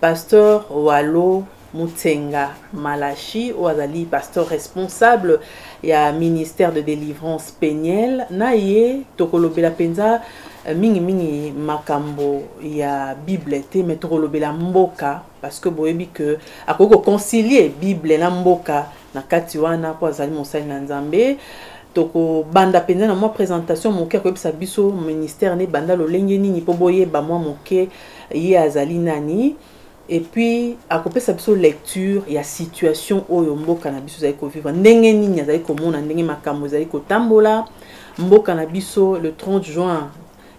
Pasteur Walo Mutsenga Malachi oyo azali pasteur responsable ya ministère de délivrance penielle na ye tokolobela mpenza eh, mingimingi makambo ya bible te me tokolobela mboka parce que boyebi ke akoki koconcilie bible na mboka na kati wana mpo azali mosali na nzambe tokobanda mpenza na mwa présentation moke akoyebisa biso ministère na ebanda lolenge nini mpo boyeba mwa moke ye azali nani et puis akopesa biso lecture ya situation oyo mboka na biso ezali kovivre ndenge nini azali komona ndenge makambo ezali kotambola mboka na biso le 30 juin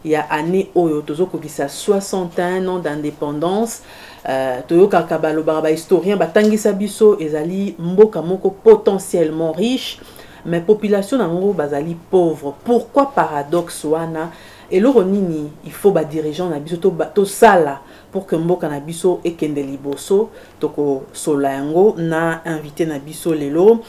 ya année oyo tozokokisa 61 ans d'indépendance euh, toyokaka balobaka bahistorien batangisa biso ezali mboka moko potentiellement riche mais population na yango bazali pauvre pourquoi paradoxe wana euh, Eloko nini il faut ba dirigeants na biso to to sala pour que mboka na biso ekende liboso toko sola yango na invité na biso lelo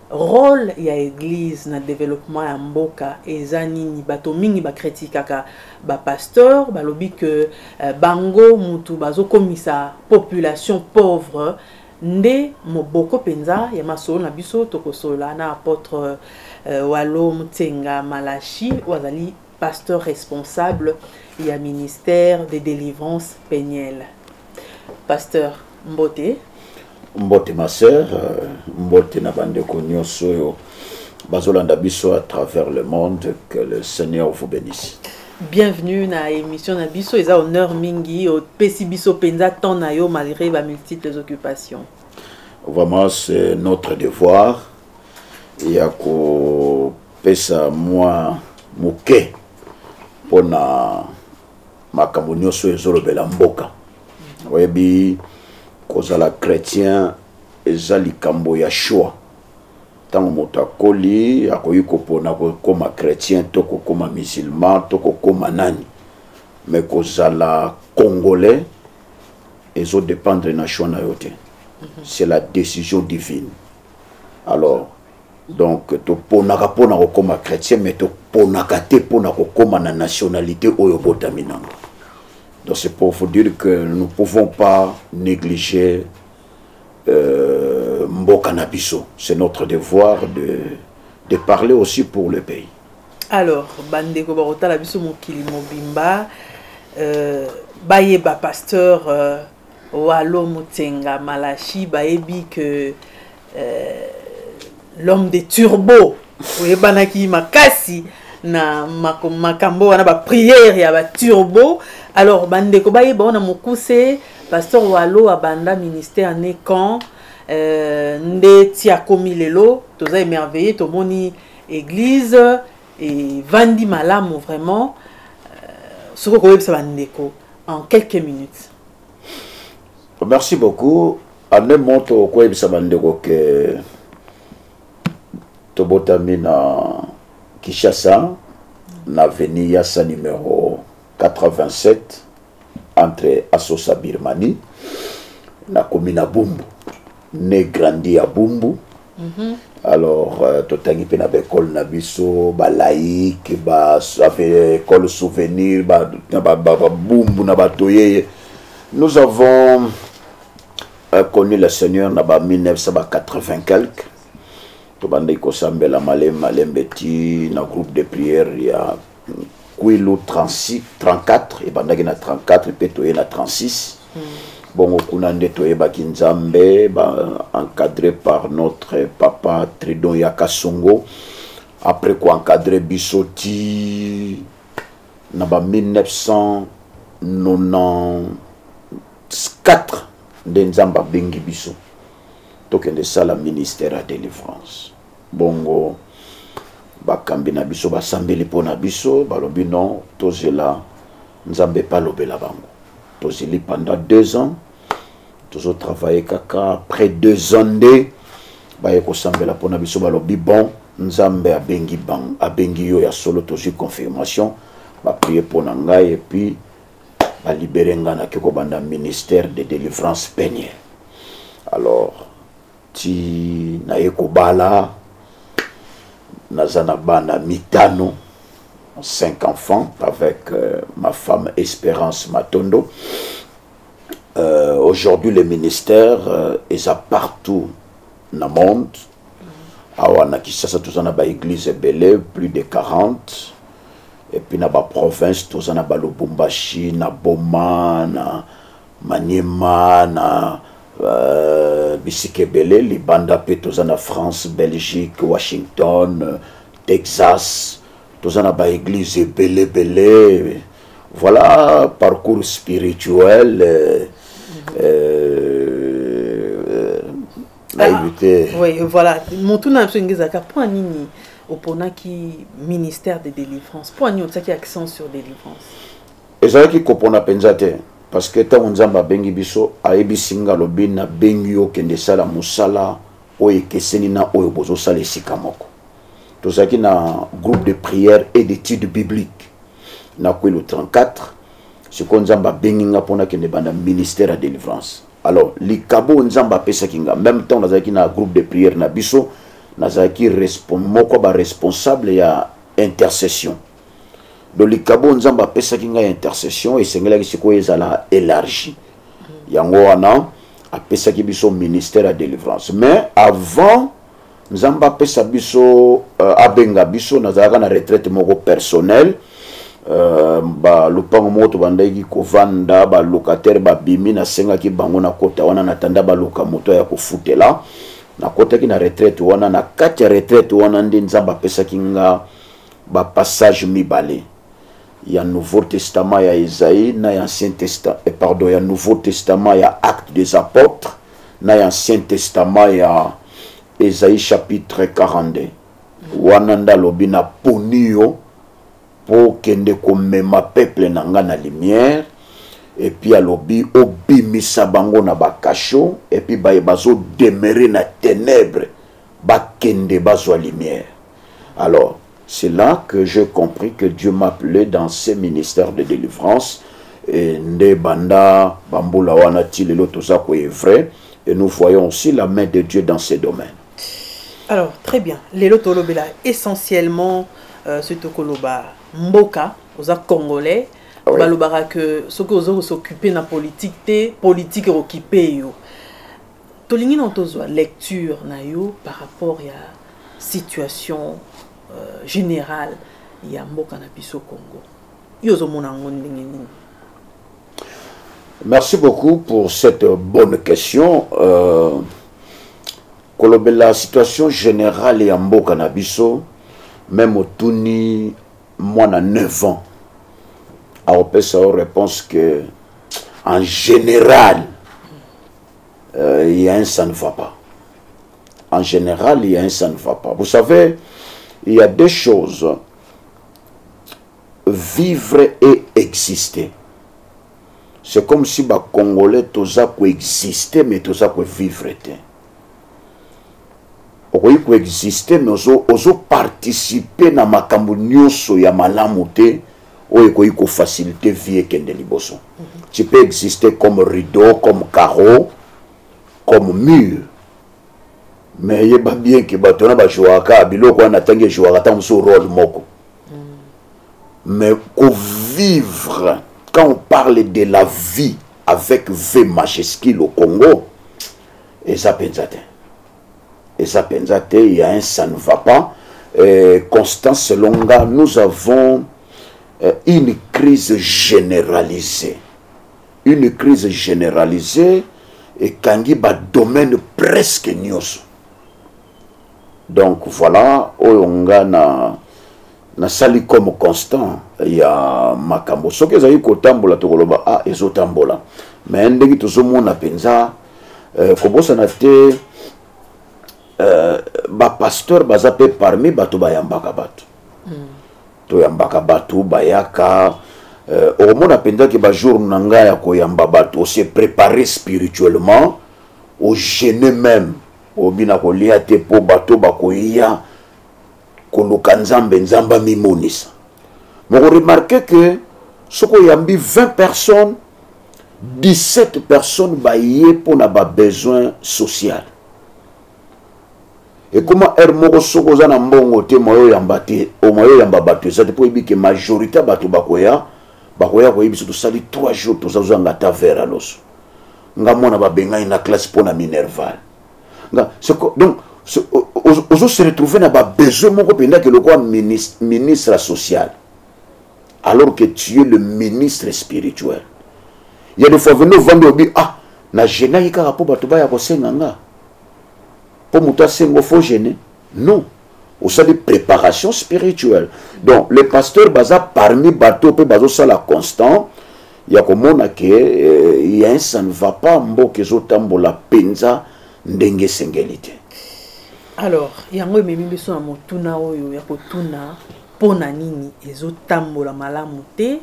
rôle ya église na développement ya mboka eza nini bato mingi bakritikaka bapasteur balobi ke euh, bango mutu bazokomisa population pauvre Nde moboko mpenza ya masolo na biso, tokosolola na apotre euh, Walo Mutsenga Malashi oyo azali pasteur responsable ya ministère de délivrance penielle. Pasteur Mbote. Mbote ma sœur, euh, mbote na bandeko nyonso oyo bazolanda biso à travers le monde, que le Seigneur vous bénisse. Bienvenue na émission na biso eza honneur mingi opesi biso penza temps na yo malgré ba multiples occupations. Vraiment c'est notre devoir ya ko pesa moi moke pona makambo nyonso ezolobela mboka oyebi kozala chrétien eza likambo ya choix ntango moto akoli akoki kopona kokoma chrétien to kokoma musulman to kokoma nani me kozala congolais ezodépendre na choix na yo te mhm. c'est la décision divine alors donc toponaka mpo na kokoma chrétien mais toponaka te mpo na kokoma na nationalité oyo obotami nango donc c'est pour vous dire que nous ne pouvons pas négliger euh, mboka na biso c'est notre devoir de, de parler aussi pour le pays alors bandeko bakotala biso mokili mobimba euh, bayeba pasteur euh, walo motsenga malachi bayebi que euh, l'homme de turbo oyebanaki makasi na makambo wana bapriere ya baturbo alors bandeko bayeba wana mokuse pasteur walo abanda ministère ne quand euh, nde ti akomi lelo toza émerveille tomoni église evandi malamu vraiment euh, soki okoyebisa bandeko en quelques minutes merci beaucoup en un mot tokoyebisa bandeko ke tobotami na kinshasa na veni yasa numero 87 entre asosa birmanie nakomi na bumbu ne grandi ya bumbu Mhm. alors euh, totangi mpe na baekole na biso balaïque baekole souvenir babumbu na bato yeye nous avons euh, connu le seigneur na ba 1980 quelque tobandaki kosambela malembe malembe ti na groupe de prière ya kwelo 36 34 ebandaki na 34 mpe toye na 36 mm. bongo kuna nde toyebaki nzambe ba encadré par notre papa tridon ya kasongo après koencadre biso ti na ba 1994 nde nzambe abengi biso tokende sala ministère ya délivrance bongo bakambi na biso basambeli mpo na biso balobi non tozela nzambe mpe alobela bango tozeli pendant deux ans tozotravaille kaka après deux ans nde baye kosambela mpo na biso balobi bon nzambe abengi bango abengi yo ya solo tozwi confirmation baprie mpo na ngai epuis balibere ngai nake kobanda ministère de délivrance peniel alors ti naye kobala naza na bana mitano cinq enfants avec euh, ma femme Espérance Matondo. Euh, Aujourd'hui, le ministère euh, est à partout dans le monde. awa na kisasa toza na baeglize ebele plus de 40 epuis na baprovince toza na balubumbashi na boma na maniema na uh, bisika ebele libanda mpe toza na france belgique washington euh, texas toza na baeglize ebele ebele voilà parcours spirituel euh, euh, nayebi ah, te oui voilà motuna na biso enge ezalaka mpo nini oponaki ministère de délivrance mpo nini otiaki accent sur délivrance ezalaki kopona mpenza te parce que ntango nzambe abengi biso ayebisi nga alobi nabengi yo okende sala mosala oyo ekeseni na oyo bozosala esika moko tozalaki na groupe de prière et d'étude biblique na kwelo 34 sikoyo nzambe abengi nga mpo nakende banda ministère ya délivrance alors likabo oyo nzambe apesaki nga meme ntango nazalaki na groupe de prière na biso nazalaki moko ya baresponsable ya intercession donc likabo nzambe apesaki ngai intercession esengelaki sikoyo ezala élargie yango wana apesaki biso ministère ya délivrance mais avant nzambe apesa biso euh, abenga biso nazalaka na retraite moko personnel euh, balupango moko tobandaki kovanda balocataire babimi nasengaki bango na kota wana natanda baluka moto ya kofutela nakotaki na retraite wana na kati ya retraite wana nde nzambe apesaki nga bapassage mibale ya nouveau testament ya esaïe na ya ancien testament eh, pardon ya nouveau testament ya acte des apôtres na ya ancien testament ya esaïe chapitre 42 wana nde alobi naponi yo mpo okende komema peuple na ngai na lumière epuis alobi obimisa bango na bakasho epuis baye bazodemere na ténèbre bakende bazwa lumière Alors, c'est là que j'ai compris que Dieu m'appelait dans ses ministères de délivrance. Et nde banda bambula wana ti lelo toza ko est vrai et nous voyons aussi la main de Dieu dans ces domaines. Alors, très bien. Lelo tolobela essentiellement euh, ce tokoloba mboka, oza congolais. Ah oui. balobaka que soki ozo s'occuper na politique te politique okipe yo tolingi na tozwa lecture na yo par rapport ya situation euh, générale ya mboka na biso congo yo ozomona yango ndenge nini merci beaucoup pour cette bonne question euh, kolobela situation générale ya mboka na biso meme otuni mwana 9 ans aopesa yo réponse que en général euh, il y a un ça ne va pas en général il y a un ça ne va pas vous savez il y a deux choses vivre et exister c'est comme si ba congolais toza ko exister mais toza ko vivre te okoki ko exister mais ozo ozo participer na makambo nyonso ya malamu te oyo ekoki kofacilite vie ekende liboso mm -hmm. tu peux exister comme rideau comme carreau comme mur mais yeba bien ke bato wana bajouaka biloko wana natangi ejouaka ntango mosusu role moko mm. mais kovivre quand on parle de la vie avec v majuscule au congo eza mpenza te eza penza te il y a un ça ne va pas euh, constant selon nga nous avons euh, une crise généralisée une crise généralisée ekangi badomaine presque nyonso donc voilà oyo nga na nasali comme constant ya makambo soki ezali kotambola tokoloba a ah, ezotambola mais ndenge tozomona mpenza euh, kobosana te euh, bapasteur baza mpe parmi bato bayambaka bato mm. toyambaka bato bayaka euh, okomona mpenza ke bajour na ngai ya koyamba bato ose prépare spirituellement ogene même obina kolia te mpo bato bakoya koluka nzambe nzambe amimonisa moko remarke ke soki oyambi 20 personnes 17 personnes baye mpo na babesoin social ekoma heure moko soki oza na mbongo te moye oyamba te omoye oyamba bato eza te mpo oyebi ke majorité ya bato bakoya bakoya koyebi biso tosali 3 jours tozazwanga ata vere ya loso nga mwana babengani na classe mpo na minerval nga soko donc ozo se retrouver na babesoin moko mpenza ke lokola ministre social alors que tu es le ministre spirituel ya de fois vende ovandi obi ah na genaki kaka mpo bato baya kosenga nga mpo moto asengo fo gene non osali préparation spirituelle donc le pasteur baza parmi bato mpe bazosala constant ya komona ke eh, ya ça ne va pas mboka ezotambola mpenza ndenge esengeli te alors yango ememi biso na motuna oyo ya kotuna mpo na nini ezotambola malamu te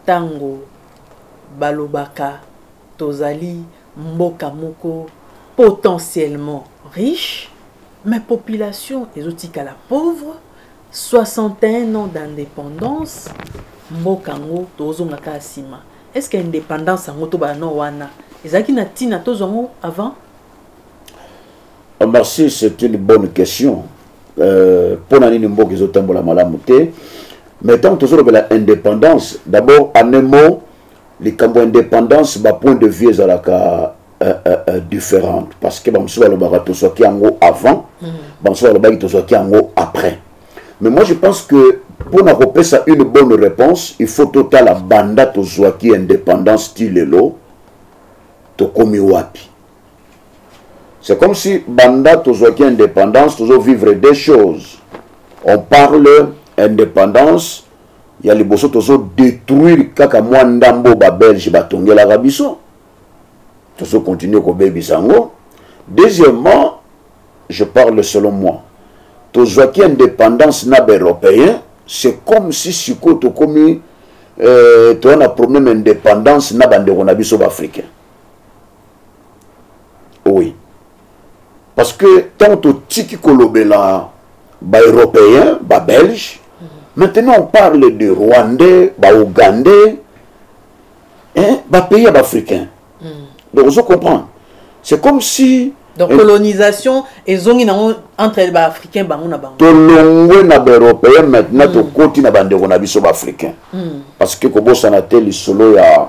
ntango balobaka tozali Mboka moko potentiellement riche mais population ezotikala pauvre 61 ans d'indépendance mboka yango tozonga kaka nsima est ce que indépendance yango tobala no wana ezalaki na ntina tozwa yango avant ah, merci c'est une bonne question mpo euh, na nini mboka ezotambola malamu te mais ntango tozolobela indépendance d'abord en un mot likambo ya indépendance bapoint de vue ezalaka uh, uh, uh, différente parce que bamosusu balobaka tozwaki yango avant mm. bamosusu balobaki tozwaki yango après mais moi je pense que mpo na kopesa une bonne réponse il faut totala banda tozwaki indépendance ti lelo tokomi wapi c'est comme si banda tozwaki indépendance tozovivre des choses on parle indépendance ya liboso tozo detruire kaka mwa ndambo babelge batongelaka biso tozo continue kobebisa yango deuxièmement je parle selon moi tozwaki indépendance na baeuropéen c'est comme si sikoyo tokomi euh, toza na problème indépendance na bandeko na biso baafricain oui parce que ntango totiki kolobela baeuropéen babelge mm -hmm. maintenant on parle de rwandais baougandais hein, bapays ya baafricain mm -hmm. donc ozo comprendre c'est comme si donc colonisation ezongi nango entre baafricain bango na bango tolongwe na baeuropéen maintenant mm. tokoti na bandeko na biso baafricain mm. parce que kobosana te lisolo ya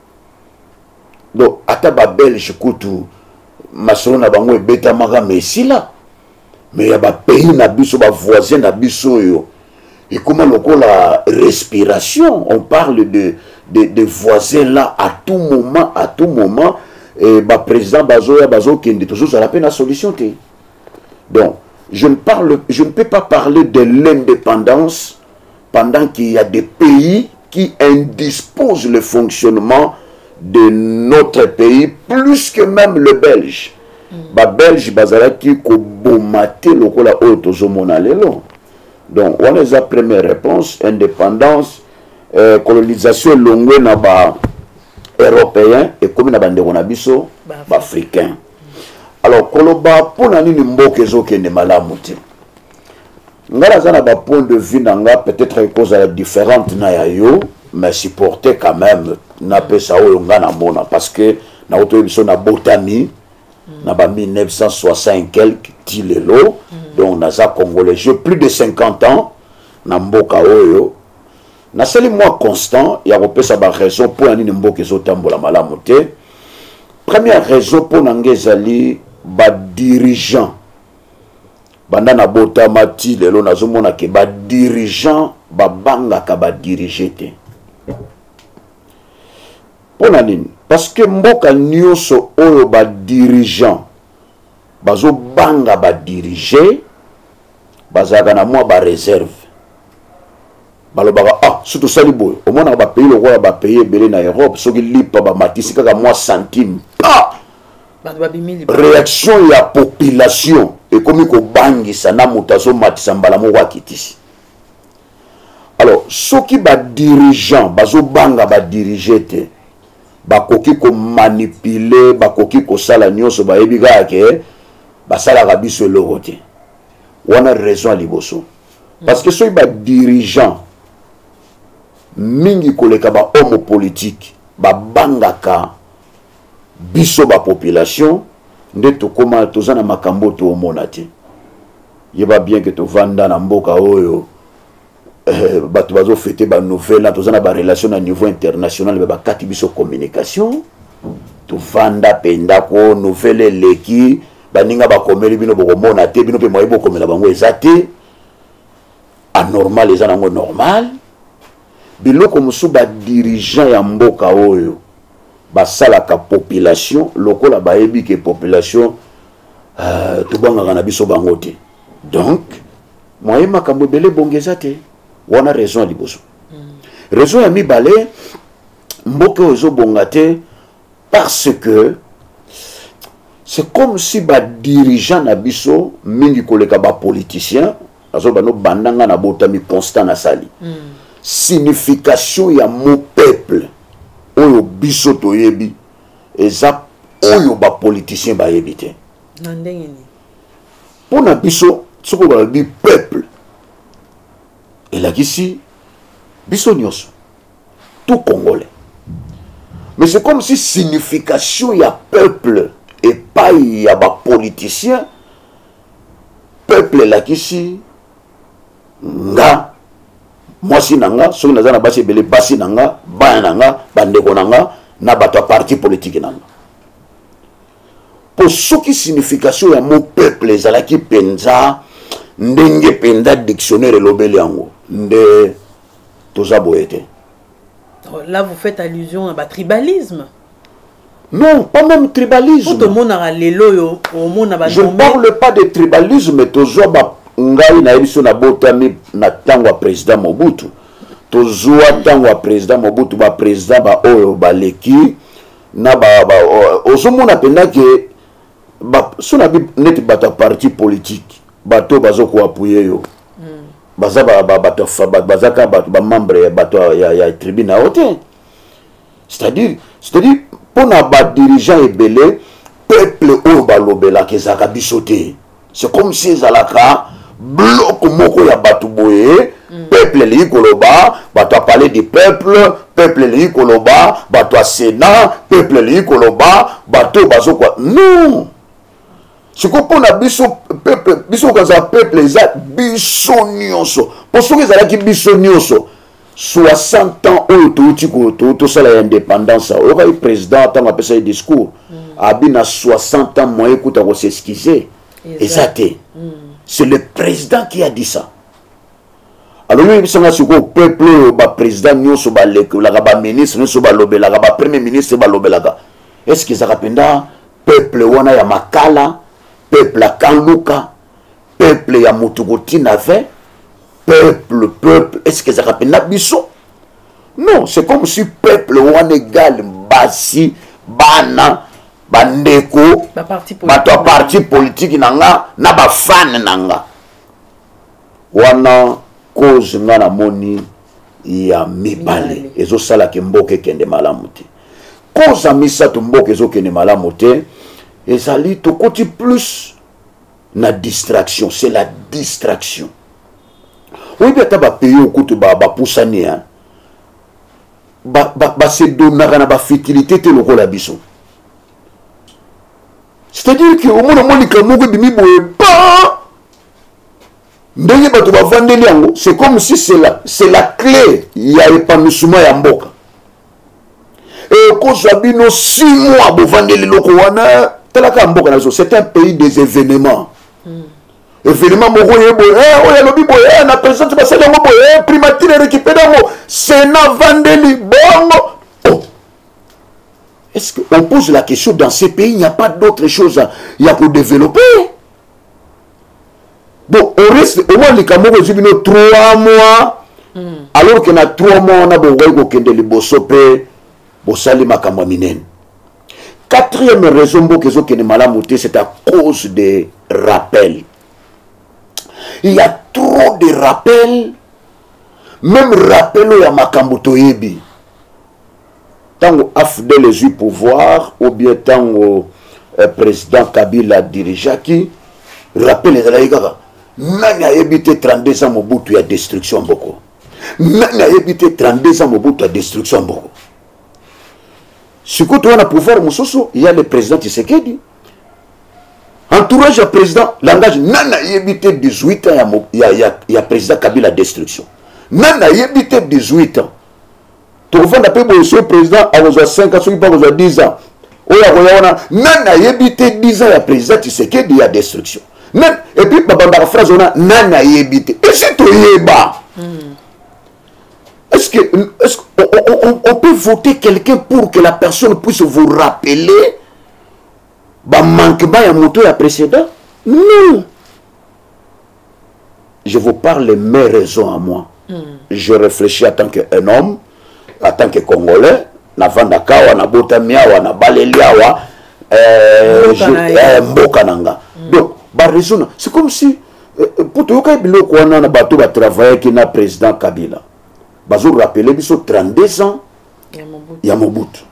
donc ata babelge kutu masolo na bango ebetamaka ma esila me ya bapays na biso bavoisin na biso oyo ekoma lokola respiration on parle de, de, de voisin là à tout moment à tout moment eh, baprésident bazoya bazokende tozozala mpe na solution te donc je ne, parle, je ne peux pas parler de l'indépendance pendant qu'il y a des pays qui indisposent le fonctionnement de notre pays plus que même le belge mm. babelge bazalaki koboma te lokola oyo tozomona lelo donc wana eza première réponse indépendance euh, colonisation elongwe na ba européen ekomi na bandeko na biso baafricain alors koloba mpo na nini mboka ezokende malamu te ngai naza na bapoint de vue na nga peut-être ekozala différente na ya yo mais supporte quand même napesa oyo ngai namona parce que nakotoye biso nabotami mm. na ba 1960 quelque ti lelo mm. donc naza congolais je plus de 50 ans na mboka oyo nasali mwa constant ya kopesa baraison mpo na nini mboka ezotambola malamu te première raison mpo na ngai ezali badirigant banda na botama ti lelo nazomona ke badirigant babangaka badirige te mpo na nini parce que mboka nyonso oyo badirigant bazobanga badirige bazalaka na mwa bareserve balobaka ah so tosali boye omonaka bapays lokola bapays ebele na europe soki lipa bamatisi kaka mwa centime pa réaction ya population ekomi kobangisa na moto azomatisa mbala moko akitisi alors soki badirigeant bazobanga badirige te bakoki komanipule bakoki kosala nyonso bayebi kaka ke basalaka biso eloko te wana raison ya liboso parce que soki badirigeant mingi koleka bahomme politique babangaka biso ba population nde tokoma toza na makambo toomona te yeba bien ke tovanda na mboka oyo eh, bato bazofete banouvelle na toza na barelation na niveau international me bakati biso communication tovanda mpe ndako nouvelle eleki baninga bakomeli bino bokomona te bino mpe moyebi bokomela bango eza te anormal eza nango normal biloko mosusu ba dirigeant ya mboka oyo basalaka population lokola bayebi ke population uh, tobangaka na biso bango te donc moye makambo ebele ebongi eza te wana raison ya liboso mm. raison ya mibale mboka oyo ezobonga te parce que c'est comme si badirigeant na biso mingi koleka bapoliticien azoba no banda nga na botami constant nasali mm. signification ya mo peuple oyo biso toyebi eza oyo bapoliticien bayebi te na ndenge nini mpo na biso soki balobi peuple elakisi biso nyonso tout congolais mais c'est comme si signification ya peuple epai ya bapoliticien peuple elakisi nga mwasi na nga soki naza na basi ebele basi na nga bana na nga bandeko na nga na bato ya parti politike na nga mpo soki signification ya mo peuple ezalaki mpenza ndenge mpenza dictionnaire elobeli yango nde toza boye te oh, là vous faites allusion à ba tribalisme non pas même tribalisme po tomonaka lelo oyo omona ba je ne parle pas de tribalisme tozwa ba ngai nayebi biso nabotami na ntango ya président mobutu tozwa ntango ya président mobutu baprésident baoyo baleki na ba, ba, ozomona mpenza ke so na bi neti bato ya parti politique bato oyo bazokoapuye yo hmm. baza bato baza kaka bato bamembre ya bato ya tribu na yo te c'est-à-dire c'est-à-dire mpo na badirigeant ebele peuple oyo balobelaka ezalaka biso te c'est comme si ezalaka bloko moko ya bato boye mm. peuple elingi koloba bato ya palais du peuple peuple elingi koloba bato ya sénat peuple elingi koloba bato oyo bazokwa non sikoyo mpo na biso peuple biso kozala peuple eza biso nyonso mpo soki ezalaki biso nyonso 60 ans oyo touti tosala ya indépendance oyoka ye président ntango apesa ye discours mm. abi na 60 ans moyen kuta koseskize eza te mm. c'est le président qui a dit ça alobi oyebisanga sikoyo peuple oyo baprésident nyonso balekelaka baministre nyonso balobelaka bapremier ministre balobelaka est ce que ezaka mpenza peuple wana ya makala peuple akanluka peuple ya moto kotina 20 peuple peuple eske ezalaka mpenza biso non c'est comme si peuple wana egale basi bana bandeko bato ya parti politiki na nga na bafane na nga wana cause nga namoni ya mibale ezosalaka mboka ekende malamu te cause ya misato mboka ezokende malamu te ezali tokoti plus na distraction c'est la distraction oyebi ata bapays oyo kutu bapusani ba basedonaka ba, ba na bafitilité te lokola biso c'est-à-dire ke omona mwa likambo moko ebimi boye ba ndenge bato bavandeli yango c'est comme si c'est la, la clé ya epanusuma ya mboka e ekozwa bino si mois bovandeli loko wana talaka mboka na biso c'est un pays des événements mm. événement moko ye boye eh, oyo alobi boye eh, na présidente basali yango boye eh, primatire erécupere yango sena vandeli bongo oh. est-ce que on pose la question dans ces pays il n'y a pas d'autre chose ya kodévelopper donc au risque au moins likambo moko ezwi bino 3 mois mm. alors que na 3 mois wana bokoki kokende liboso mpe bosali makambo ya minene quatrième raison mboka ezokende malamu te c'est à cause de rappel il y a trop de rappel même rappel oyo ya makambo toyebi ntango afdl ezwi pouvoir ou bien ntango eh, président kabila dirigeaki rappel ezalaki kaka nani ayebi te 32 ans mobutu ya destruction mboko nani ayebi te 32 ans mobutu ya destruction mboko sikoyo toza na pouvoir mosusu ya le président tisekedi entourage ya président langage nani ayebi te 18 ans ya, ya, ya, ya président kabila destruction nani ayebi te 18 ans tokofanda mpe boye soki président akozwa 5 ans soki mpe akozwa 10 ans oyo akoya wana nani ayebi te 10 ans ya président tisekedi ya destruction nani epuis babandaka phrase wana nani ayebi te esi toyeba hmm. est ce que, est -ce que on, on, on, on peut voter quelqu'un pour que la personne puisse vous rappeler bamanquement ya moto ya précédent non je vous parle mes raisons à moi mm. je réfléchis en tant qu'un homme en tant que congolais navandaka awa nabotami awa nabaleli awa mboka eh, na eh, nga mm. donc baraisona c'est comme si eh, mpo toyokaki biloko wana na bato batravayaki na président kabila bazorapele biso 32 ans ya mobutu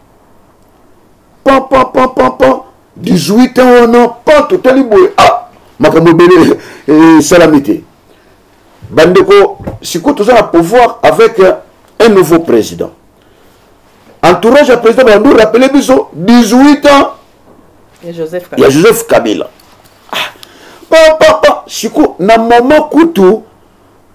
papa papa papa 18 ans wana pa totali boye ah makambo ebele esalami te bandeko sikoyo toza na pouvoir avec un nouveau président entourage ya président bandu rappele biso 18 ans ya joseph kabila ah, papa sikoyo na mama kutu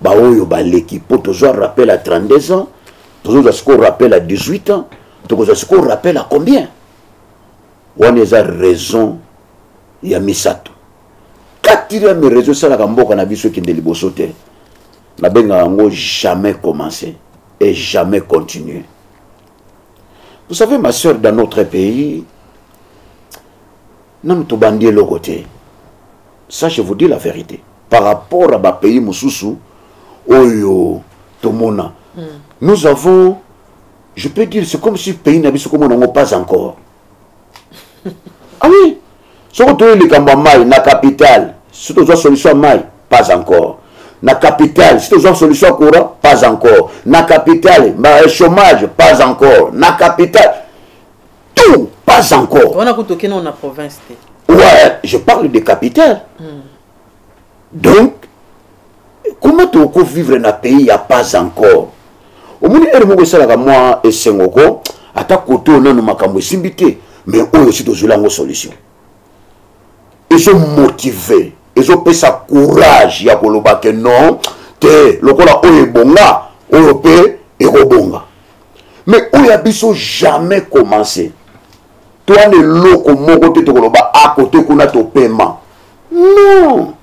baoyo baleki mpo tozwa rappel ya 32 ans tozozwa sikoyo rappel ya 18 ans tokozwa sikoyo rappel ya combien wana eza raison ya misato quatrième raison esalaka mboka na biso ekende liboso te nabengaka yango jamais commencer et jamais continuer vous savez ma soeur dans notre pays nanu tobandi eloko te ça je vous dis la vérité par rapport à bapays mosusu oyo tomona mm. nous avons je peux dire c'est comme si pays na biso komona yango pas encore ah oui soki toyei likambo ya mai na capitale si tozwa solution ya mai pas encore na capitale si tozwa solution ya courant pas encore na capitale chômage pas encore na capitale tout pas encore wana kutu okende na province te ouais je parle de capitale hmm. donc comment toko vivre na pays ya pas encore omoni ere moko esalaka mwa esengo ko ata kote oyo nano makambo esimbi te mais oyo si tozweli yango solution ezomotive ezopesa courage ya koloba ke non te lokola oyo ebonga oyo mpe ekobonga mais oyo ya biso jamais commencer toa na eloko moko te tokoloba akote ah, kuna topema non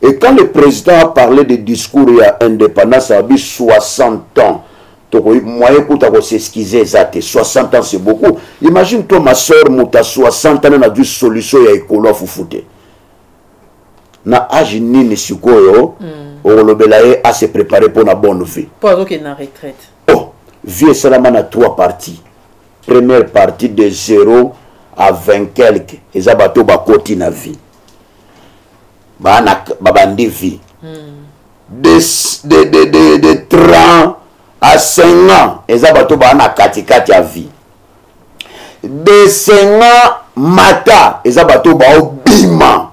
et quand le président a parlé de discours ya indépendance abi 60 ans tokoki moyen kuta koseskize eza te 60 ans c'est beaucoup imagine toi ma soeur moto ya 60 ans na nazwi solution ya ekolo ya fufu te na age nini sikoyo mm. okolobela ye a se préparer mpo na bonne vie mpo azokende na retraite oh, vie esalama na trois parties première partie de 0 à 20 quelque eza bato oyo bakoti na vie babandi vie mm. de, de, de, de, de 30 à 5 ans eza bato baa na katikati ya vie desenga mata eza bato baobima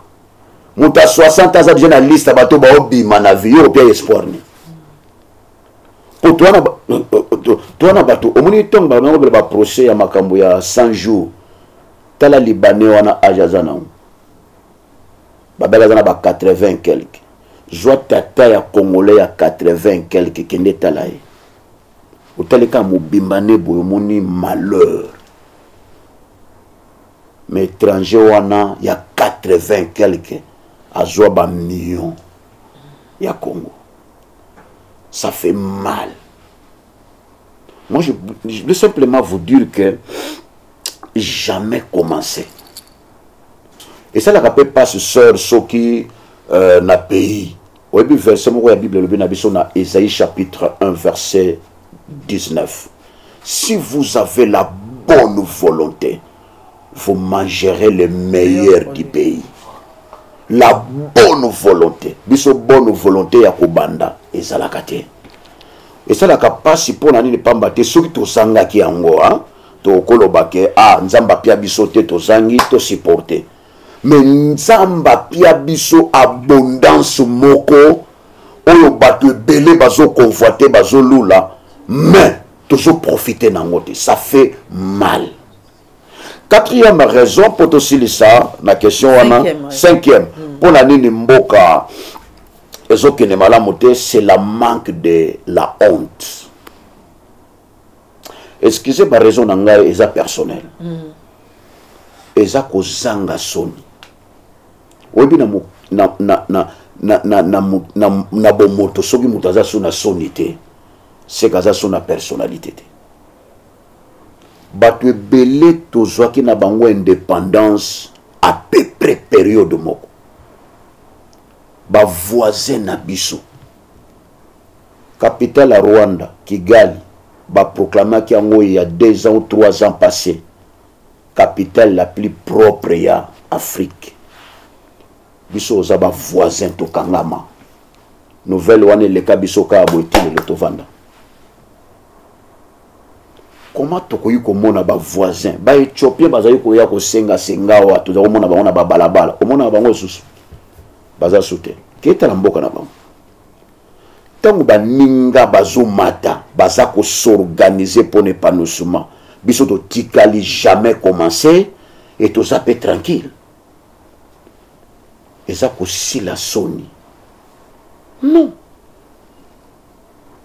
moto ya 60 aza deja na liste ya bato baobima na vie yo opia espoir nini po toa na euh, euh, bato omoni ntongo banakobela baprocès ya makambo ya 100 jours tala libanais wana age aza nango babela aza na ba 80 quelque zwa tata ya congolais ya 80 quelque kende tala ye otali kaka mobimba nde boye omoni malheur mais étranger wana ya 80 quelque azwa bamillion ya congo ça fait mal moi je, je veux simplement vous dire que jamais commencer esalaka mpe mpasi seur soki euh, na pays oyebi verse moko ya bible elobi na biso na esaïe chapitre 1 verset 19 si vous avez la bonne volonté vous mangerez le meilleur du pays la bonne volonté biso bonne volonté ya kobanda ezalaka te esalaka mpasi mpo na nini mpamba te soki tozangaki yango tokoloba ke a ah, nzambe apia biso te tozangi tosiporte me nzambe apia biso abondance moko oyo bato ebele bazokonvoite bazolula mais tozoprofite nango te ça fait mal quatrième raison mpo tosilisa na question wana cinquième mpo hmm. na nini mboka ezokende malamu te c'est la manque de la honte excuse ba raison na ngai eza personnel mm. eza kozanga soni oyebi na, na, na, na, na, na, na, na, na bomoto soki moto aza so na soni te seke aza so na personnalité te bato ebele tozwaki na bango indépendance à peu près période moko bavoisin na biso Capitale ya Rwanda, Kigali, baproclamaki yango ya deux ans ou trois ans passé capitale la plus propre ya Afrique. Biso oza ba voisin tokangama. Nouvelle wana eleka biso kaka boye ti lelo tovanda. Comment tokoki komona ba voisin ba Ethiopien bazali koya kosenga senga awa toza komona bango na babalabala omonaka bango lisusu baza sute ketala mboka na bango ntango baninga bazomata baza kosorganize mpo na epanosuma biso totikali jamais commence e toza mpe tranquille eza kosila soni non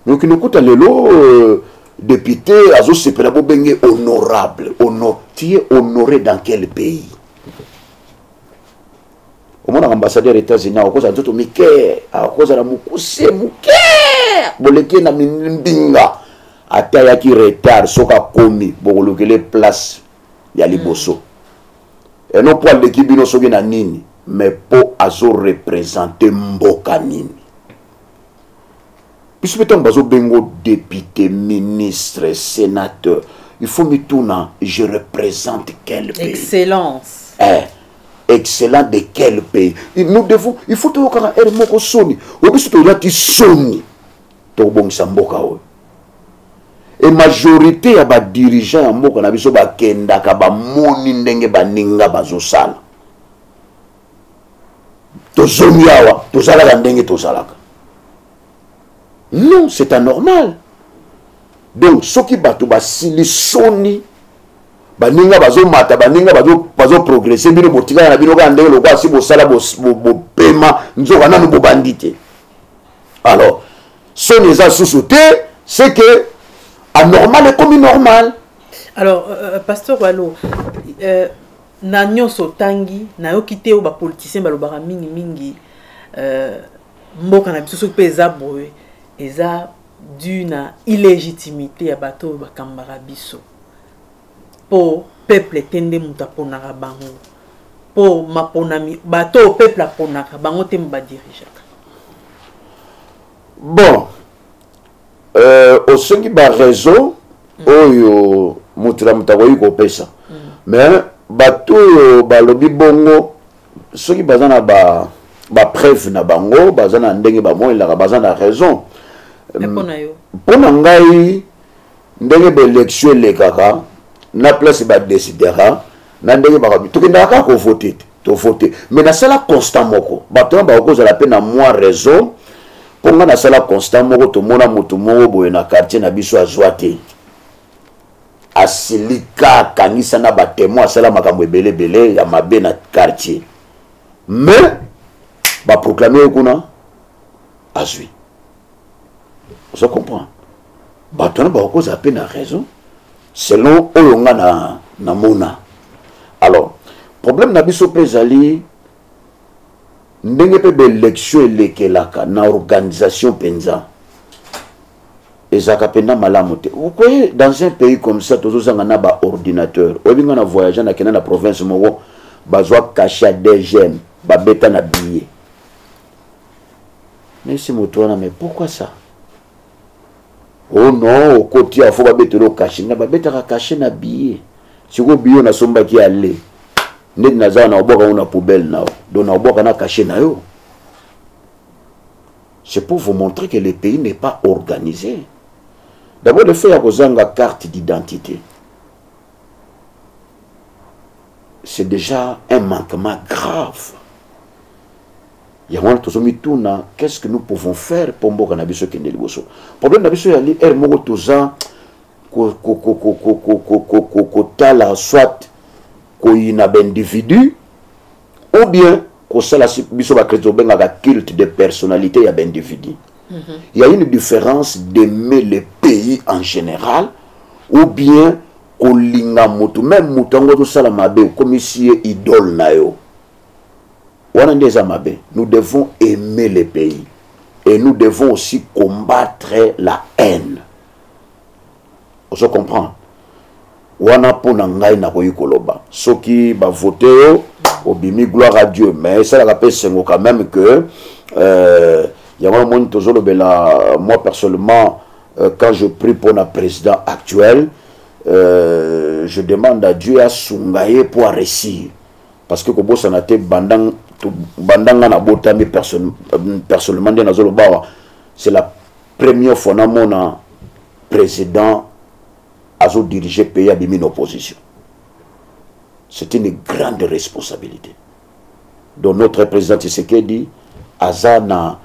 yoki lokuta lelo euh, député azosepela bobenge honorable honor tu es honoré dans quel pays omonaka ambassadeur états-unis akokozala nzoto mike akokozala mokuse moke boleki na mbinga ata ayaki retard soki akomi bokolukele place ya liboso mm. eno mpo aleki bino soki na nini mais mpo azorepresente mboka nini biso mpe ntango bazobengo député ministre sénateur il faut mituna je représente quel pays excellence eh, excellent de quel pays nous devons il faut toyokaka ere moko soni oyo biso tolati soni tokobongisa mboka oyo e majorité ya badirigeant ya mboka na biso bakendaka bamoni ndenge baninga bazosala tozongi awa toza kaka ndenge tozalaka non c'est anormal donc soki bato basili soni baninga bazomata baninga bazoprogrese bino botikala na bino kaka ndenge lokola si bosala bopema nzoka nanu bobandi te alors soni eza susu te c'est que anormal ekomi normal alors euh, euh pasteur walo euh, Na nionso otangi, nayoki te oyo ba politiciens balobaka mingi mingi euh, mboka na biso soki mpe eza boye eza dû na illégitimité ya bato oyo bakambaka biso mpo peuple te nde moto aponaka bango mpo maponami bato oyo peuple aponaka bango te mo badirigeaka bon Euh, osengi baraison mm. oyo moto na moto akoki kopesa mm. mais bato oyo balobi bongo soki baza na ba bapreuve na bango baza na ndenge bamonelaka baza na raison mpo mm. na ngai ndenge baelektio elekaka na place badesidera na ndenge bakabi tokendaka kaka kovote te tovote mais nasala constat moko bato wana bakokozala mpe na mwa raison mpo ngai nasala constat moko tomona moto moko boye na quartier na biso azwa te asilika akangisa na batemoi asala makambo ebele ebele ya mabe na quartier mais baproklame ye kuna azwi ozo comprendre bato wana bakokozala mpe na raison selon oyo nga na namona alors problème na biso mpe ezali ndenge mpe baélection elekelaka na organisation mpenza ezalaka mpenza malamu te okoye dans un pays comme ça tozozanga na baordinateur oyebi ngai na voyage nakenda na province moko bazwa kasha dgm babeta na billet nayebisi moto wana mais pourquoi ça o oh non okoti awa fo babetela okashe nga babetaka kashe na biye sikoyo biyo nasombaki ya le ndeti naza na obwaka yango na poubelle na yo donc na obwaka na kashe na yo c'est pour vous montrer que le pays n'est pas organisé d'abord le fait ya kozanga carte d'identité c'est déjà un manquement grave yango wana tozomituna qu'est ce que nous pouvons faire mpo mboka na biso ekende liboso problème na biso yali heure moko toza kotala soit koyina baindividu ou bien kosala biso bakristo obengaka culte de personnalité ya baindividu mm -hmm. ya une différence d'aimer le pays en général ou bien kolinga motu meme motu yango tozosala mabe okomisi ye idole na yo wana nde eza mabe nous devons aimer le pays et nous devons aussi combattre la haine ozo comprendre wana mpo na ngai nakoki koloba soki bavote yo obimi gloire à dieu mais esalaka mpe esengo quand même que euh, yango namoni tozolobela euh, moi personnellement euh, quand je prie mpo na président actuel euh, je demande à dieu asunga ye mpo aresir parce que kobosana te bandanga banda nga nabotami personnellement nde nazoloba awa c'est la première fois namona président azodirige pays abimi na opposition c'est une grande responsabilité donc notre président tshisekedi aza na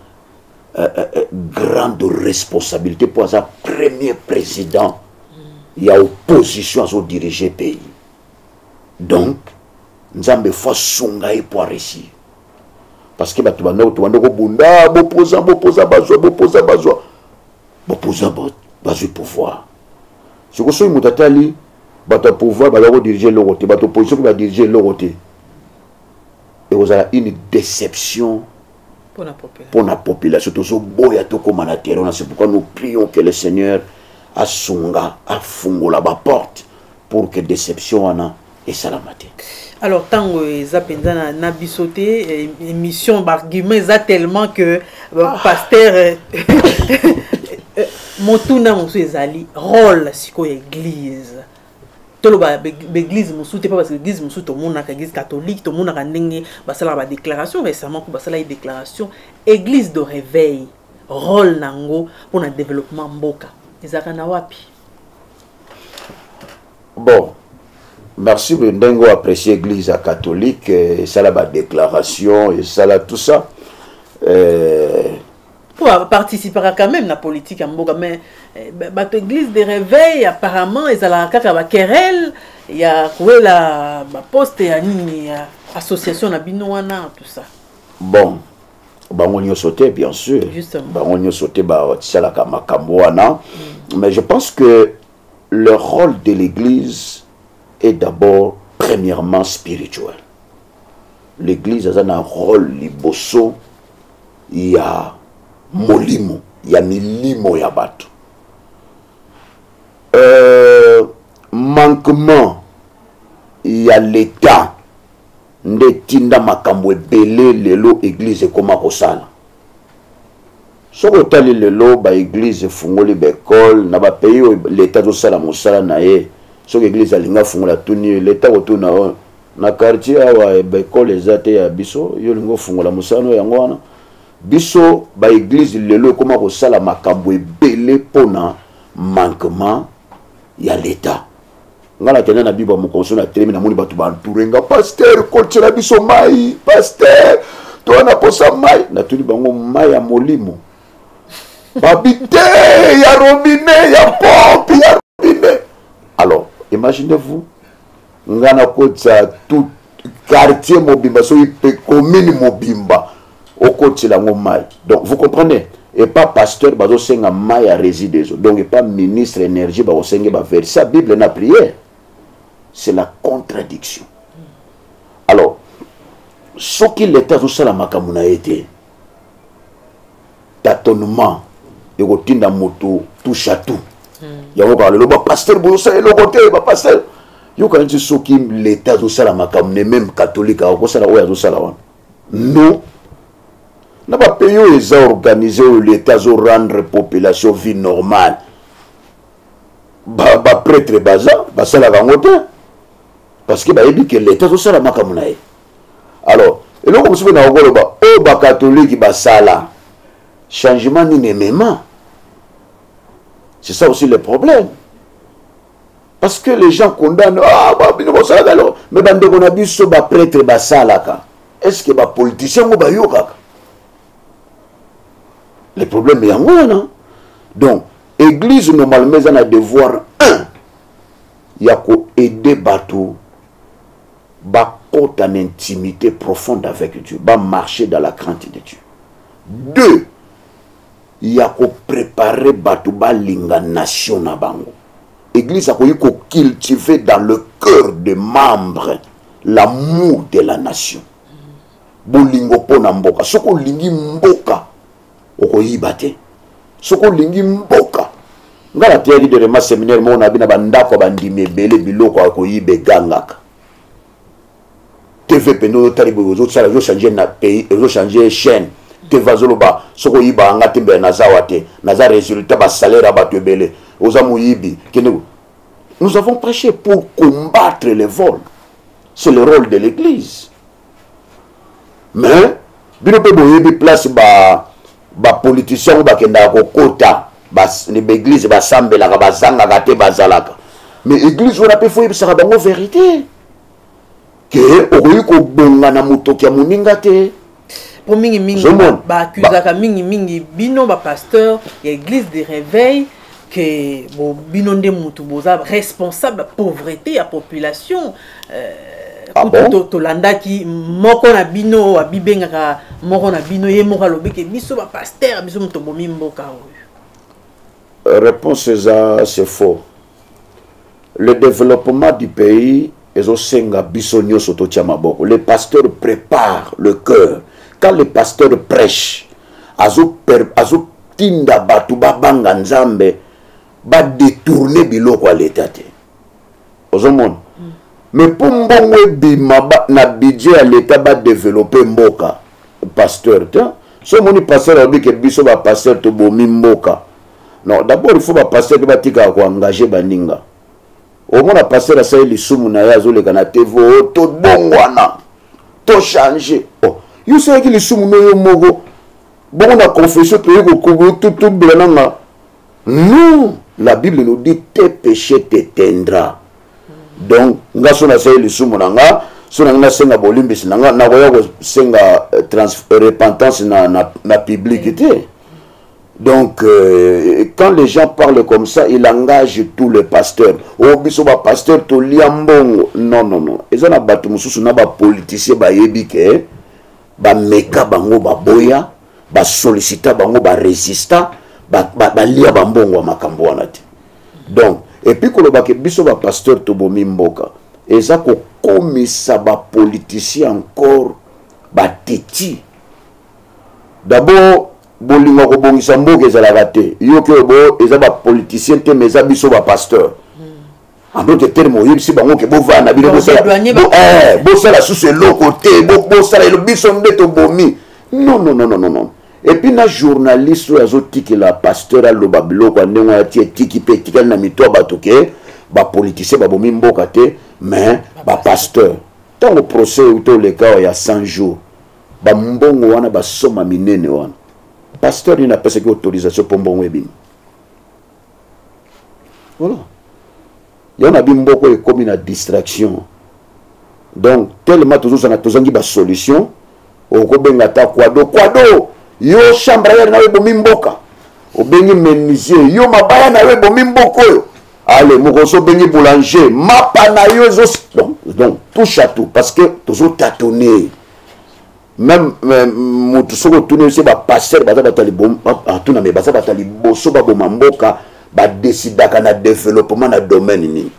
euh, euh, euh grande responsabilité mpo aza premier président ya opposition azodirige pays donc nzambe fo asunga ye mpo areussir parce que bato banda tobanda kobunda bopoza bopoza bazwa bopoza bazwa bopoza bazwi pouvoir soko soki moto atali bato ya pouvoir baza kodirige eloko te bato opposition mpe badirige eloko te ekozala une déception mpo na population tozoboya tokóma na terrain na c'est pourquoi nous prions que le seigneur asunga afungola baporte pour que déception wana esalama te alors ntango eza mpenza na, na biso te eh, émission bargument eza tellement que euh, ah. pasteur euh, euh, motuna mosusu ezali role sikoyo ya église toloba baeglise mosusu te mpo parce que eglise mosusu tomonaka eglise catholique tomonaka ndenge basalaka badéclaration récemment mpo basalaki déclaration église de réveil rôle na yango mpo na développement mboka ezalaka na wapi bon merci ndenge oyo apprécie église ya catholique eh, esala badéclaration esala tout ça euh, po aparticipaka quand même na politique ya mboka mais eh, bato église de réveil apparemment ezalaka kaka baquerelle ya kowela baposte ya nini ya association na bino wana tout ça bon bango nyonso te bien sûr bango nyonso te batisalaka makambo wana mm. mais je pense que le rôle de l'église est d'abord premièrement spirituel l'église aza na rôle liboso ya molimo ya milimo ya bato euh, manquement ya leta nde etinda makambo ebele lelo eglize ekoma kosala soki otali lelo baeglize efungoli baekole na bapays oyo leta azosala mosala na ye soki eglize alingi afungola tuni leta kotuna oyo na quartier awa eh, baekole eza te ya biso yo olingi ofungola mosano yango wana biso baeglize lelo ekoma kosala makambo ebele mpo na manquement ya leta ngai nakenda na bible ya mokonso na telemi namoni bato baentoure nga paster kotyela biso mai paster toya na posa mai natuni bango mai ya molimo babi te ya robine ya pompe ya robine alors imaginez vous nga nakotisa tout quartier mobimba soki mpe commune mobimba okotisela yango mai donc vous comprenez epa pasteur bazosenga mai ya réside ezo donc epa ministre énergie bakosenge baverse ya bible na prière c'est la contradiction alors soki leta azosala makambo na ye te tatonement ekotinda moto touche à tout hmm. yango kaka lelo bapasteur bozosala eloko te bapasteur yokana nti soki leta azosala makambo ne meme katholike akosala oyo azosala wana non na bapays oyo eza organise oyo leta azorendre population vie normale bapretre ba baza basalaka yango te parce que bayebi ke leta azosala makambo na ye alors eloko mosusu mpe na kokoloba oyo bakatoliki basala changement nini emema c'est ça aussi le problème parce que les gens condamnent ah, bah, bino bosalaka eloko mais bandeko na biso bapretre basalaka est ce que bapoliticien yango bayokaka le problème yango wana donc église normalement eza na devoir 1 ya koaide bato bakota na intimité profonde avec dieu bamarche dans la crainte de dieu deux ya koprepare bato balinga nation na bango église akoki kocultive dans le cœur de membre l'amour de la nation bolingo mpo na mboka soki olingi mboka okoyiba te soki olingi mboka ngai nateyaki dernièrement séminaire moko na bino bandako ya bandimi ebele biloko ya koyiba egangaka tv mpenza ozotali boye ozosala ozochange na pays ozochange chaîne tv azoloba soki oyibaka nga te mbele nazawa te naza résultat basalaire ya bato ebele oza moyibi kende nous avons prêché pour combattre les vols c'est le rôle de l'église mais bino mpe boyebi place ba bapoliticien oyo bakendaka kokota baeglize basambelaka bazangaka te bazalaka mais eglize wana mpe fo oyebisaka bango verité ke okoki kobonga na motoki ya moninga te mpo mingimingi baakuzaka mingimingi bino bapasteur ya eglise de réveil que bo bino nde mutu boza responsable pauvreté ya population euh, ah bon? tolandaki moko na bino abibengaka moko na bino ye moko alobi ke biso bapaster biso moto bomi mboka oyo réponse eza c'est faux le développement du pays ezosenga biso nyonso totya maboko le pasteur prépare le cœur quand le pasteur prêche azotinda azo bato babanga nzambe badetourne biloko ya leta te ozomona mm. mais mpo mbongo ebima na budget ya leta badeveloppe mboka pasteur te so omoni pasteur alobi ke biso bapasteur tobomi mboka non d'abord il faut ba pasteur pe batika ko engager baninga omona pasteur asali lisumu na ye azoleka na tv o oh, tobongwana tochange oh, yo osalaki lisumu no yo moko bongo na confession toyei kokobela nanga non la bible nous dit te péché t'éteindra donc nga so nasali lisumu na nga so na ngai nasenga bolimbisi na nga nakoya kosenga euh, euh, repentance na, na, na publike te Donc, euh, quand les gens parlent comme ça, ils engagent tous les pasteurs. Oh, biso ba pasteur to liambongo. Non, non, non. Ils ont battu mususu na ba politiciens ba yebi ke ba meka bango ba boya, ba sollicita bango ba resista, ba ba, ba lia ba mbongo makambo wana te. Donc, et puis koloba ke biso ba pasteur to bomi mboka. Eza ko komisa ba politiciens encore ba teti. D'abord bolingo ya kobongisa mboka ezalaka te yoki oyo bo eza bapoliticien te ma eza biso bapasteur hmm. en d'autre terme oyebisi bango ke bovanda bino bosala eh, susu eloko te bosala elo biso nde tobomi non non non non non epuis na journaliste oyo azotikela pasteur aloba biloko ya ndenge oyo ati etiki mpe etikali na mito ya bato ke bapoliticien babomi mboka te mais bapasteur ntango procès euti oleka oyo ya 100 jours bambongo wana basoma minene wana pasteur nini apesaki autorisation mpo mbongo ebimi voilà yango na bimboko ekomi na distraction donc tellement tozozanga tozangi basolution okobenga ata kwado kwado yo chambre yare nayo ebomi mboka obengi menuisier yo mabaya na yo ebomi mboka oyo ale mokosi obengi boulanger mapa na yo ezo donc touche à tout parce que tozotatone meme motu soki otuni osi bapaster baza bato atuna me baza bato ya liboso baboma mboka badesidaka na développement na domaine nini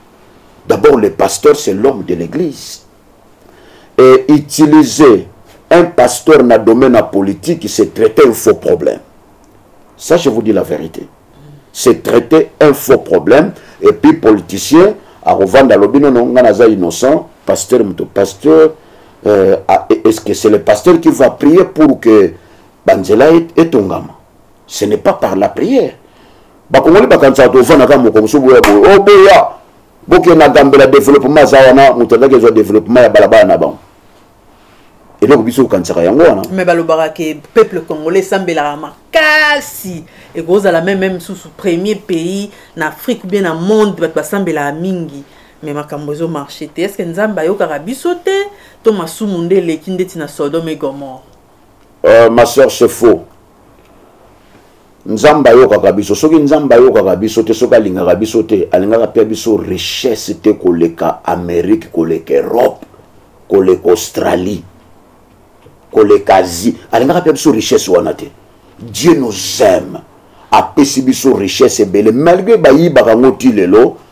d'abord le pasteur c'est l'homme de l'église et utiliser un pasteur na domaine ya politique c'est traiter un faux problème ça je vous dis la vérité c'est traiter un faux problème et puis politicien akovanda alobi nono ngai naza innocent pasteur moto pasteur euh, ah, e-, est-ce que c'est le pasteur qui va prier pour que banzela etongama ce n'est pas par la prière bakongoli bakanisaka tovanaka moko mosusu boya boye oboya oh, bokenda gambela développement aza wana moto azaki ezwa développement ya balabala na bango eloko biso kokanisaka yango wana me balobaka ke peuple congolais esambelaka makasi ekozala meme meme susu premier pays na afrique ou bien na monde bato basambelaka mingi me makambo ezo marche te estce nzambe ayokaka biso te to masumu nde eleki ndeti na sodome gomor uh, ma soeur c'est faux nzambe ayokaka biso soki nzambe ayokaka biso te soki alingaka biso te alingaka mpe biso richesse te koleka amérique koleka europe koleka australie koleka asie alingaka mpe biso richesse wana te dieu nous aime apesi biso richesse ebele malgre bayibaka yango ti lelo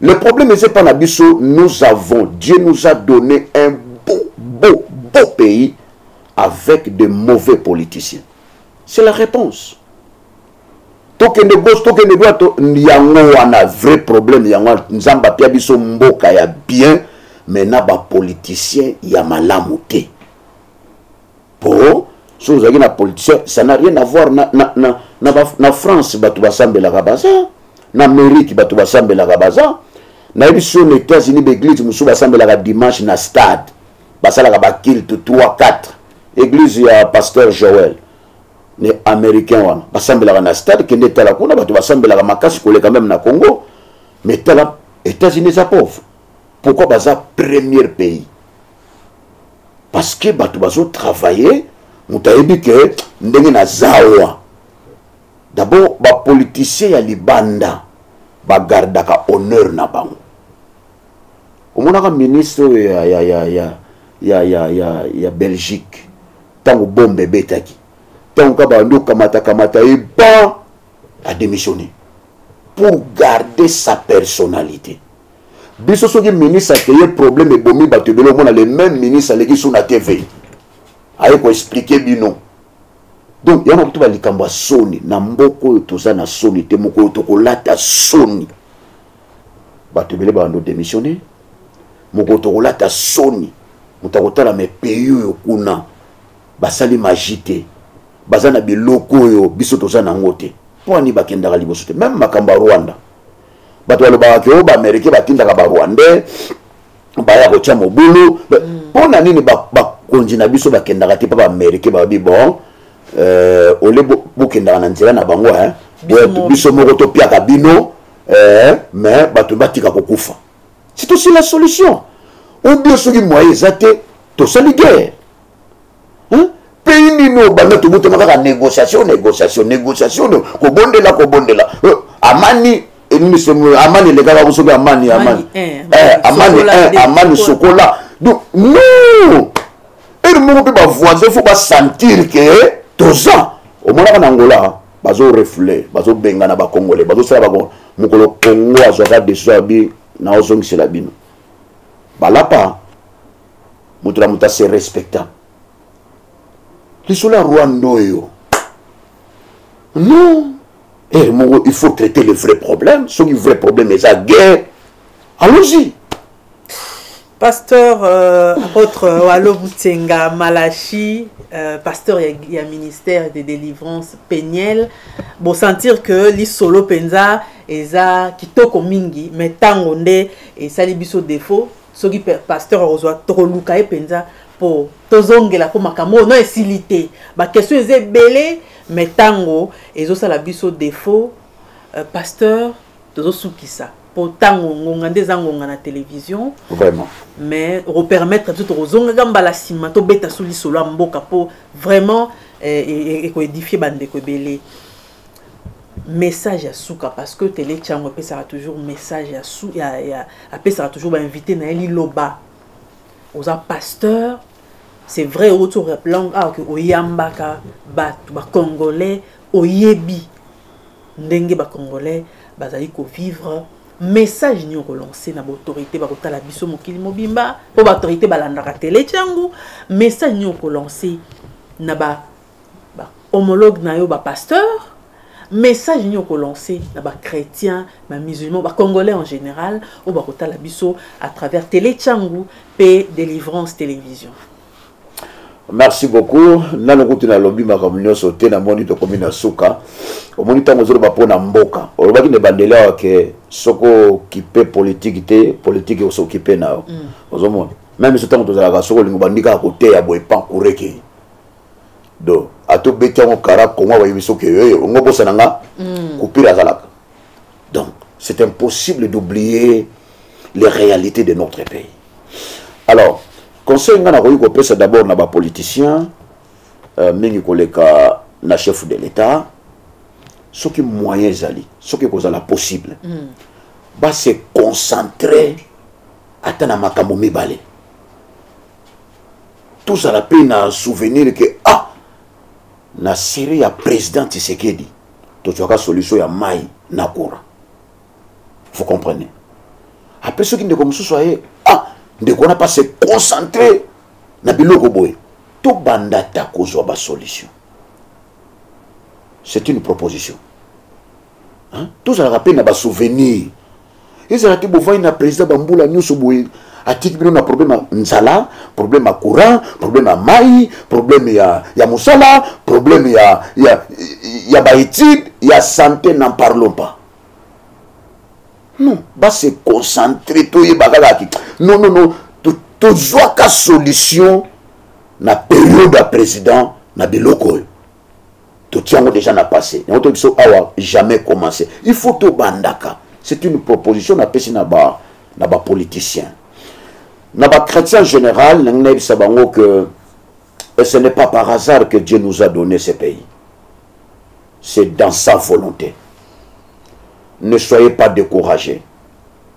Le problème c'est pas nabiso, nous avons, Dieu nous a donné un beau, beau, beau pays avec de mauvais politiciens. C'est la réponse. tokende gauche tokende droite yango wana vrai problème yango wana nzambe apia biso mboka ya bien mais na bapoliticien ya malamu te po soki ozalaki na politicien ça n'a rien à voir na, na, na, na, na, na france bato basambelaka baza na amérique bato basambelaka baza nayebi so na états-unis baeglise mosusu basambelaka dimanche na stade basalaka bakilte 3 4 église ya pasteur joel ne américain wana basambelaka na stade kende etala kuna bato basambelaka makasi koleka meme na congo mais tala états-unis eza pauvre pourquoi baza premier pays parce que bato bazo travailler moto ayebi ke ndenge naza awa d'abord bapoliticien ya libanda bagardaka honneur na bango omonaka ministre oyo ya, ya, ya, ya, ya, ya, ya, ya belgique ntango bombe ebetaki ntango ka bandi okamatakamata ye ba adémissionne pour garder sa personnalité biso soki ministre akeye problème ebomi bato ebele omona le même ministre aleki so na tv aye koexplike bino donc yango kutu balikambo ya soni na mboka oyo toza na soni te moko oyo tokolata soni bato ebele babando démissionne mokolo tokolata soni moto akotala me pays oyo kuna basali maji te baza na biloko oyo biso toza na yango te mpo ani bakendaka liboso te meme makambo ya rwanda bato balobaka ke o baamerike batindaka barwandais baya kotya mobulu mpo mm. na nini bakonzi na biso bakendaka te mpo baamerike babi bon euh, ole bokendaka na nzela na bango eh? biso moko topiaka bino eh, mais bato batika kokufa c'est aussi la solution ou bien soki moyen eza te tosali guerre pays nini oyo banda tobotama kaka négociation négociation négociation kobondela kobondela euh, amani eh, amani elekaka ko soki amani amani eh, eh, amani amani sokola donc non ere moko mpe bavoisin fo basentir ke toza omonaka na angola bazo refule bazobengana bacongolais bazosala bakongo mokolo congo azwaka decision abi naozongisela bino balapa moto na moto ase respecta lisolo ya rwanda oyo non ere eh, moko il faut traiter le vrai problème soki vrai problème eza guerre allons-y pasteur euh, apôtre euh, walo butenga malachi euh, pasteur ya, ya ministère de délivrance peniel bosentir que lisolo mpenza eza kitoko mingi mais ntango nde esali biso défaut soki pasteur akozwa tokoluka ye mpenza mpo tozongela mpo makambo oyo no esili te baquestion eza ebele me ntango ezosala biso defaut euh, pasteur tozosukisa mpo ntango ngonga nde eza ngonga na télévision vraiment mais okopermettre biso tokozongaka mbala nsima tobeta so lisolo ya mboka mpo vraiment eh, e, e, ekoedifie bandeko ebele message ya suka parce que tele chango apesaka toujours message ya su ya, ya apesaka toujours bainvité na ye liloba oza pasteur c'est vrai outi olangue awa ke oyambaka bato bacongolais oyebi ndenge bacongolais bazali kovivre message nini okolance na baautorité bakotala biso mokili mobimba mpo baautorité balandaka tele chango message nini okolance na ba ba homologue na yo ba pasteur message nini okolancer na ba chrétien ba musulman ba congolais en général oyo bakotala biso à travers télé changu mpe délivrance télévision merci beaucoup nanu kutu nalobi makambo nyonso te namoni tokomi na suka omoni ntango ozoloba mpo na mboka olobaki na ebandeli awa ke soki okipe politike te politike osokipe na yo mm. ozomona meme biso ntango tozalaka soki olingo bandi kaka koteya boye pankureke donc ato beti yango kara kongo abayebi soki yoye ongo bosana nga mm. kupira azalaka donc c'est impossible d'oublier les réalités de notre pays alors conseil nga nakoki kopesa d'abord na bapoliticien euh, mingi koleka na chef de l'état soki moyen ezali soki ekozala possible mm. base concentre ata na makambo mibale tozala mpe na souvenir ke ah na sere ya président tisekedi tozwaka solution ya mai na courant vous comprenez apres soki ndeko mosusu aye ah ndeko wana mpa se concentre na biloko boye tobanda ata kozwa basolution c'est une proposition hein? tozalaka mpe na basouvenir ezala te bovandi na président bambula nyonso boye atiki bino na problème ya nzala problème ya courant problème ya mai problème ya, ya mosala problème ya, ya, ya baétude ya santé n'en parlons pas non base concentré toyeba kaka ki non non non tozwaka solution na periode ya président na biloko oyo totia yango déjà na passé yango toyebi biso awa jamais commencé il faut tobandaka c'est une proposition napesi na ba na bapoliticien na bachrétien général nangi nayebisa bango que et ce n'est pas par hasard que dieu nous a donné ce pays c'est dans sa volonté ne soyez pas découragés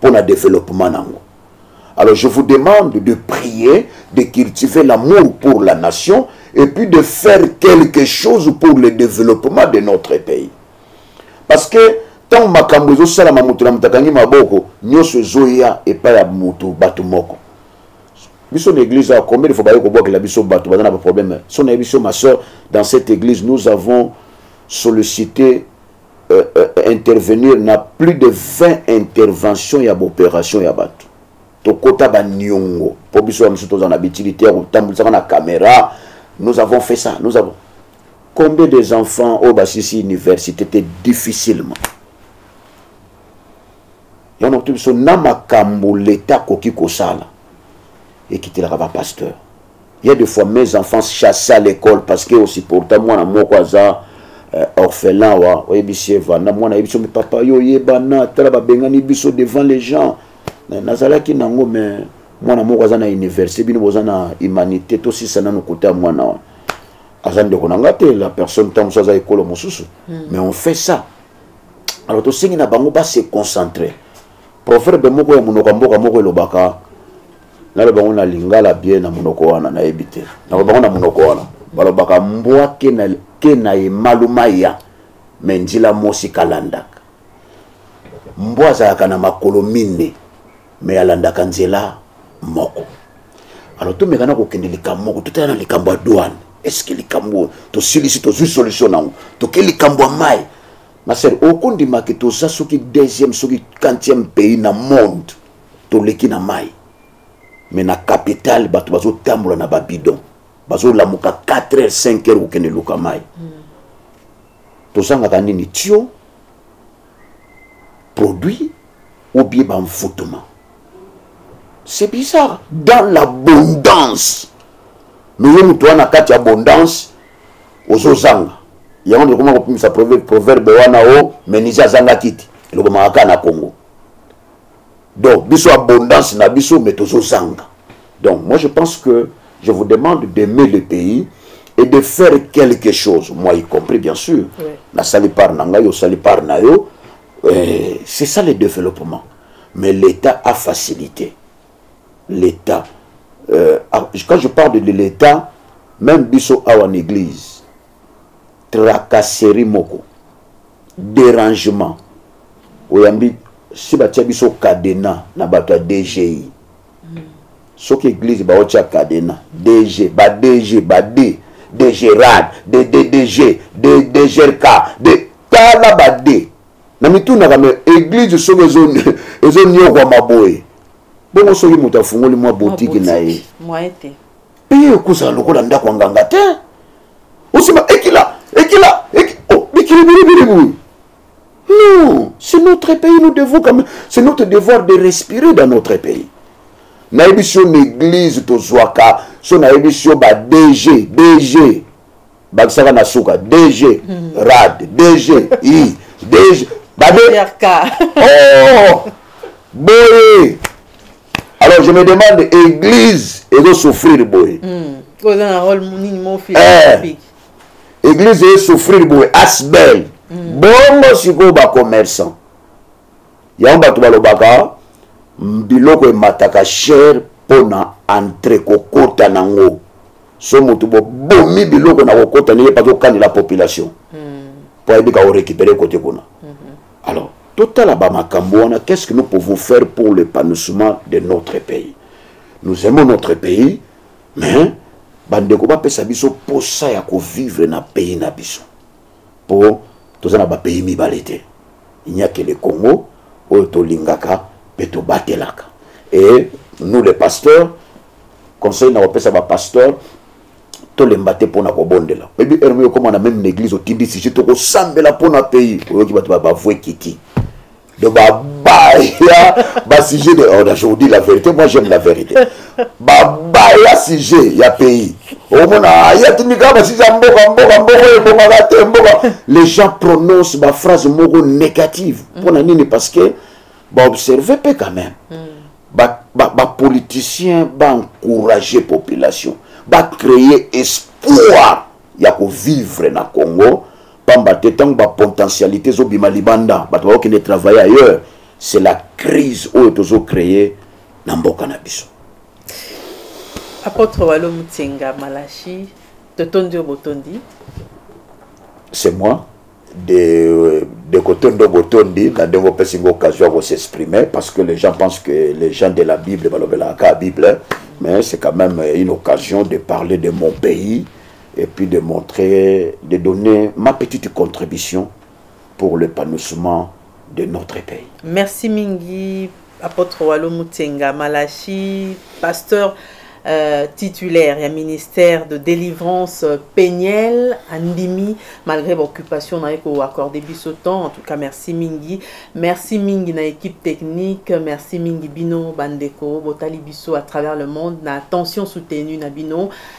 pour le développement nango alors je vous demande de prier de cultiver l'amour pour la nation et puis de faire quelque chose pour le développement de notre pays parce que ntango makambo ezosalama moto na moto akangi maboko nyonso ezoya epai ya moto bato moko biso na église awa combien de fois baye kobwakela biso bato baza na baproblème so nayebi biso ma soeur dans cette église nous avons sollicité euh, euh, intervenir na plus de 20 intervention ya baopération ya bato tokota baniongo mpo biso ya mosusu toza na bitilite ya kotambulisaka na caméra nous avons fait ça nous avons combien des enfants oyo basilisi université te difficilement yango nakuti biso na makambo leta akoki kosala ekitelaka bapasteur Il y a des fois mes enfants chassés à l'école parce que aussi pourtant moi na moko aza euh, orphelin wa oyebisi evanda mwana ayebi biso me papa yo oyebana tala babengani biso devant les gens nazalaki nango mais mwana moko aza na université bino boza na humanité tosisa nano kote ya mwana wana aza ndeko na ngai te la personne ntango mosusu aza ekolo mosusu hmm. mais on fait ça alors tosengi na bango base concentrer proverbe moko ya monoko ya mboka moko elobaka naloba yango na lingala bie na monoko wana nayebi te naloba yango na monoko wana balobaka mbwa ke na emaluma ya me njila mosi kalandaka mbwa azalaka na makolo minne me alandaka nzela moko alo tomekana kokende likambo moko totala na likambo ya douane eske likambo oyo tosilisi tozwi solution nango toke likambo ya mai Ma sœur, okondima ke toza soki deuxième soki quantième pays na monde toleki na mai me na capitale bato bazotambola na babidon bazolamuka 4 heures 5 heures kokende luka mai mm. tozangaka nini tio produit obie bamfutuma c'est bizarre dans l'abondance me yo moto wana kati ya abondance ozozanga yango tokoma kopimisa proverbe wana o menise azanga kiti elobamaka kaka na congo donc biso abondance na biso mais tozozanga donc moi je pense que je vous demande d'aimer le pays et de faire quelque chose moi y compris bien sûr oui. nasali part na ngai osali part na yo euh, c'est ça le développement mais l'état a facilité l'État. Euh, ah, quand je parle de l'État, même biso awa en église, tracasserie moko, dérangement, oyambi si batia biso cadena na bato ya dgi soki église baotia cadena dg ba dg ba d dgrad ddg dgrk tala ba d na mitunaka me eglise soki ezoniokwama boye bongo soki moto afungoli mwa botiki na ye mpe ye ekozala lokola ndako ya nganga te osima ekila ekila oh, bikili bilibili boye non c'est notre pays nous devons quand même c'est notre devoir de respirer dans notre pays nayebisi yo na église tozwaka so nayebisi yo ba dg dg bakisaka na suka dg hmm. rad dg i dg babe oh boye alors je me demande église ezo souffrir boye hmm. oza na role nini mofia eh. église ezo souffrir boye asbel hmm. bongo sikoyo bacommerçant yango bato balobaka biloko emataka shere mpo na entre kokota nango so moto bobomi biloko na kokota ndenge mpaki okanela population mpo hmm. ayebi ka orécupere kote kuna mhm. alors totala bamakambo wana qu'est ce que nous pouvons faire pour l'épanouissement de notre pays nous aimons notre pays mais bandeko bapesa biso mposa ya kovivre na pays na biso po toza na ba pays mibale te il n'y a que le Congo oyo tolingaka pe tobatelaka et nous les pasteurs conseil na kopesa ba pasteurs tolemba te mpo na kobondela oyebi heure moko okoma na meme na église otindi sije tokosambela mpo na pays oyoki bato bavue kiti Donc, bah, baya ba sujet de oh, je vous dis la vérité moi j'aime la vérité ba baya sujet ya pays omona oh, aya tindika ba sujet mboka mboka mboka ebongaka te mboka les gens prononcent ba phrase moko négative mpona mm. nini parce que baobserve mpe quand même bapoliticien mm. ba, ba, ba baencourage population bacreye espoir ya kovivre na congo pamba te ntango bapotentialité ezobima libanda bato bakokende travailler ailleurs c'est la crise oyo tozocreye na mboka na biso apôtre walo mutenga malachi totondi oyo botondi c'est moi de, de kotondo botondi na ndenge opesi ngo occasion ya kosexprimer parce que les gens pensent que les gens de la bible balobelaka kaka bible mais c'est quand même une occasion de parler de mon pays et puis de montrer, de donner ma petite contribution pour l'épanouissement de notre pays. Merci Mingi, apôtre Walo Mutenga, Malachi, pasteur euh, titulaire et ministère de délivrance euh, péniel andimi malgré l'occupation na eko accordé biso temps en tout cas merci mingi merci mingi na équipe technique merci mingi bino bandeko botali biso à travers le monde na attention soutenue na bino